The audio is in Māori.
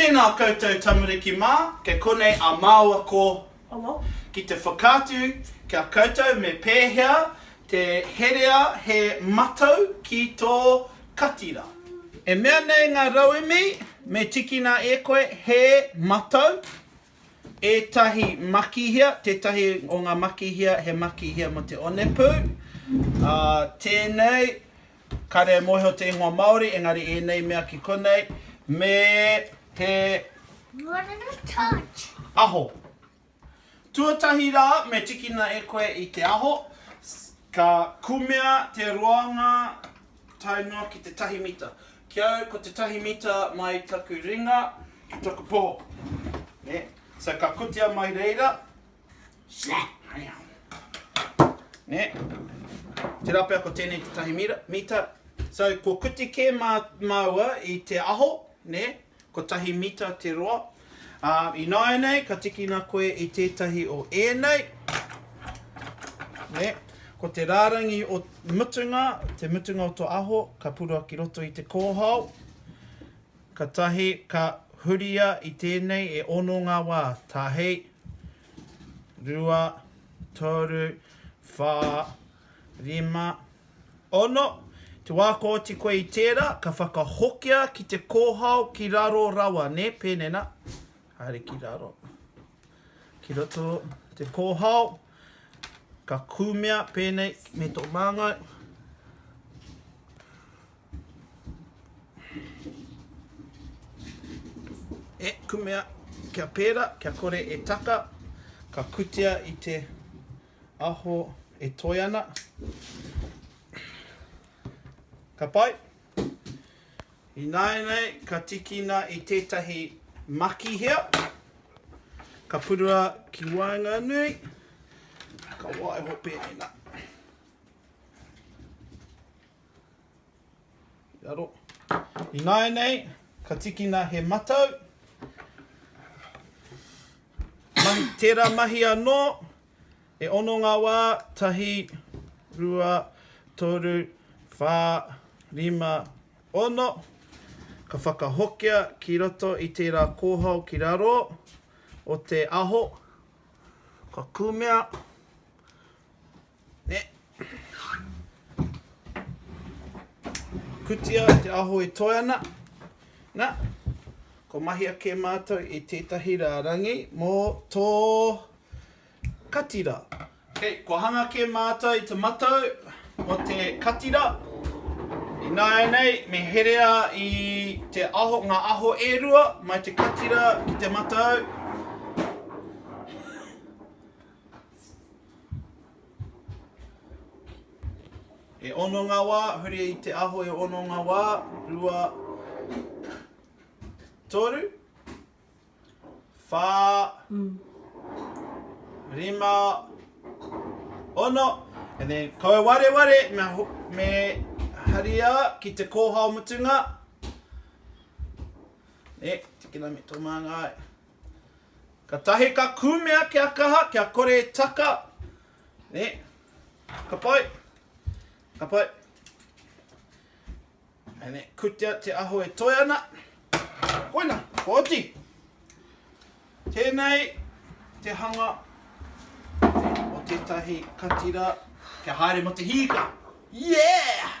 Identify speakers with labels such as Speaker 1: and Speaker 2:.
Speaker 1: Tēnā koutou tamariki mā, kei konei a māua ko. Ki te whakaatu kia koutou me pēhea te herea he matau ki tō katira. E mea nei ngā rauemi me tikina e koe he matau, ētahi makihia, tētahi o ngā makihia he makihia mō te onepū, ā, tēnei Kāre e mōhio te ingoa Māori, engari ēnei mea ki konei me he aho. Tuatahi rā, me tikina e koe i te aho, ka kumea te roanga tae noa ki te tahi mita. Ki au, ko te tahi mita mai taku ringa ki taku poho. So ka kotia mai reira. Nē? Tērā pea ko tēnei te tahi mita. So, kua kuti kē mā māua i te aho, nē, ko tahi mita te roa. Ā, ināianei ka tikina koe i tētahi o ēnei, nē, ko te rārangi o mutunga, te mutunga o tō aho, ka purua ki roto i te kōhao. Katahi ka huria i tēnei e ono ngā wā, tahi, rua, toru, whā, rima, ono. Te wā kua oti koe i tērā, ka whakahokia ki te kōhao ki raro rawa, nē, pēnei nā, haere ki raro, ki roto te kōhao, ka kumea pēnei me tō māngai. E kumea kia pēra, kia kore e taka, ka kutia i te aho e toe ana. Ka pai. Ināianei, ka tikina i tētahi makihea. Ka purua ki waenganui. Ka waiho pēnei nā. Ināianei, ka tikina he matau. Tērā mahi anō, e ono ngā wā, tahi, rua, toru, whā, rima, ono. Ka whakahokia ki roto i tērā kōhao ki raro o te aho, ka kumea, Kutia te aho e toe ana. Na, kua mahi ake matou i tetahi rarangi mo to kati ra. Okay, kua hanga ake matou i te matou mo te kati ra. Inaenei me herea i te aho, nga aho e rua mai te kati ra ki te matou. E ono nga wa, huri i te aho e ono nga wa, rua, toru, wha, rima, ono, and then kau wareware me haria ki te kohao mutunga, ne, tikina me to manga ai. Ka tahi ka kumea kia kaha, kia kore e taka, ne, ka pai, ka pai. Ane, kutea te aho e toe ana. Koina, ko oti. Tēnei te hanga o tētahi katira kia haere mo te hīka. Yeah!